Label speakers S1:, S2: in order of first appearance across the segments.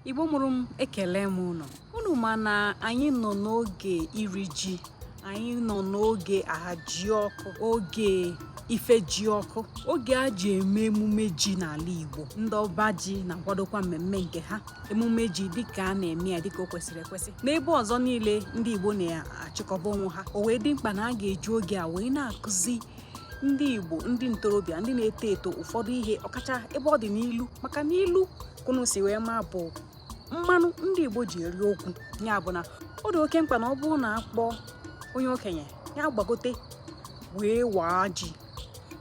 S1: igbo mụrụ m ekele m unu unu ma na anyị nọ n'oge iri ji anyị nọ n'oge ahajiọkụ oge ifejiọkụ oge a ji eme emume ji n'ala igbo ndị ọba ji na-akwadokwa mmemme nke ha emume ji dịka a na-eme ya dịka o kwesịrị ekwesị n'ebe ọzọ niile ndị igbo na-achịkọba onwe ha o wee dị mkpa na a ga-eji oge a wee na-akụzi ndị igbo ndị ntorobịa ndị na-eto eto ụfọdụ ihe ọkacha ebe ọ dị n'ilu maka na ilu ka unu si wee ma bụ mmanụ ndị igbo ji eri okwu ya bụ na ọ dị oke mkpa na ọ bụrụ na a kpọọ onye okenye ya gbagote wee waa ji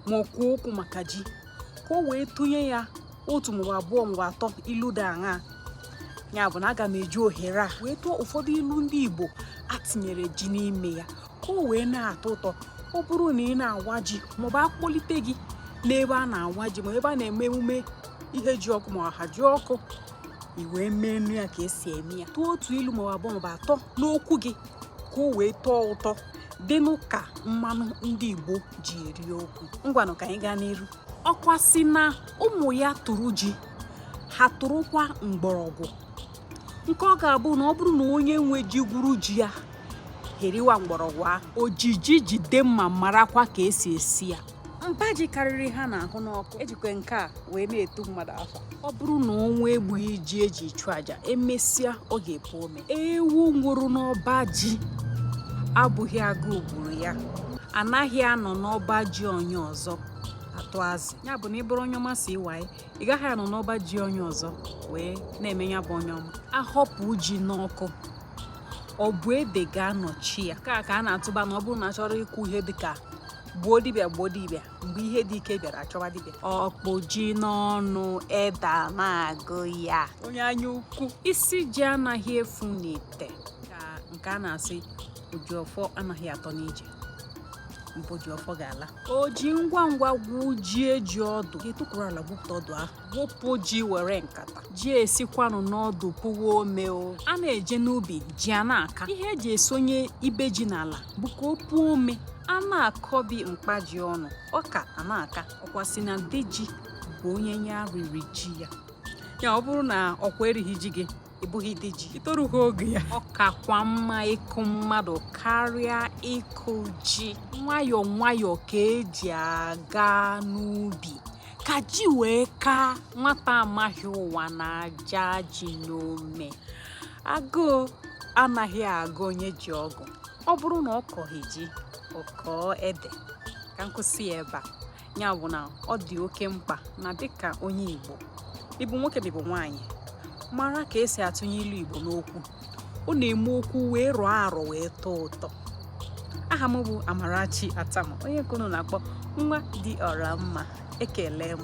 S1: ma kwuo okwu maka ji ka o wee tụnye ya otu maọbụ abụọ maọbụ atọ ilu dị aṅaa ya bụ na aga m eji ohere a wee tụọ ụfọdụ ilu ndị igbo a tinyere ji n'ime ya ka o wee na-atọ ụtọ ọ bụrụ na ị na-awa ji maọbụ a kpọlite gị n'ebe a na-awa ji ma ebe a na-eme emume ihejiọkụ ma ahajiọkụ i wee meenụ ya ka e si eme ya tụọ otu ilu maọbụ abụọ maọbụ atọ n'okwu gị ka o wee tọọ ụtọ dịnụ ka mmanụ ndị Igbo ji eri okwu ngwanụ ka anyị gaa n'iru ọkwa sị na ụmụ ya tụrụ ji ha tụrụkwa mgbọrọgwụ nke ọ ga-abụ na ọ bụrụ na onye nwe ji gwuru ji ya ha eriwa mgbọrọgwụ ahụ o ji ji jide mma marakwa ka e si esi ya mba ji karịrị ha na-ahụ n'ọkụ e jikwa nke a wee na-etu mmadụ afa ọ bụrụ na ọnwụ egbughị ji e ji chụọ aja e mesịa ọ ga-epu ome ewu nwụrụ n'ọba ji abụghị agụụ gburu ya anaghị anọ n'ọba ji onye ọzọ atụ azụ ya bụ na ị bụrụ onye ọma si iwaye ị gaghị anọ n'ọba ji onye ọzọ wee na-eme ya bụ onye ọma a họpụ ji n'ọkụ ọ bụ ede ga-anọchi ya nke a ka a na-atụba na ọ bụrụ na a chọrọ ikwu ihe dịka gbuo dibịa gbuo dibịa mgbe ihe dị ike bịara a chọwa dibịa ọ kpụ ji n'ọnụ ede na-agụ ya onye anya ukwu isi ji anaghị efu n'ite ka nke a na-asị o ji ọfọ anaghị atọ n'ije maọbụ o ji ọfọ ga-ala o ji ngwa ngwa gwujie ji ọdụ ga-etukwuru ala gwupụta ọdụ ahụ gwụpụ ji were nkata ji esikwanụ n'ọdụ puwa ome o a na-eje n'ubi ji a na-aka ihe e ji esonye ibe ji n'ala bụ ka o puo ome a na-akọbi mkpa ji ọnụ ọka a na-aka ọkwa sị na di ji bụ onye ya riri ji ya ya ọ bụrụ na ọkwa erighị ji gị ị bụghị di ji i torughị ogo ya ọ kakwa mma ịkụ mmadụ karịa ịkụ ji nwayọọ nwayọọ ka e ji aga n'ubi ka ji wee kaa nwata amaghị ụwa na-aja ji n'ome agụụ anaghị agụ onye ji ọgụ ọ bụrụ na ọ kọghị ji ọ kọọ ede ka m kwụsị ya ebe a ya bụ na ọ dị oke mkpa na dịka onye Igbo ịbụ nwoke ma ịbụ nwaanyị mara ka esi atụnye ilu Igbo n'okwu ọ na-eme okwu wee rụọ arọ wee tọọ ụtọ aha m bụ Amarachi Atama onye nke unu na-akpọ nwa dị ọra mma ekele m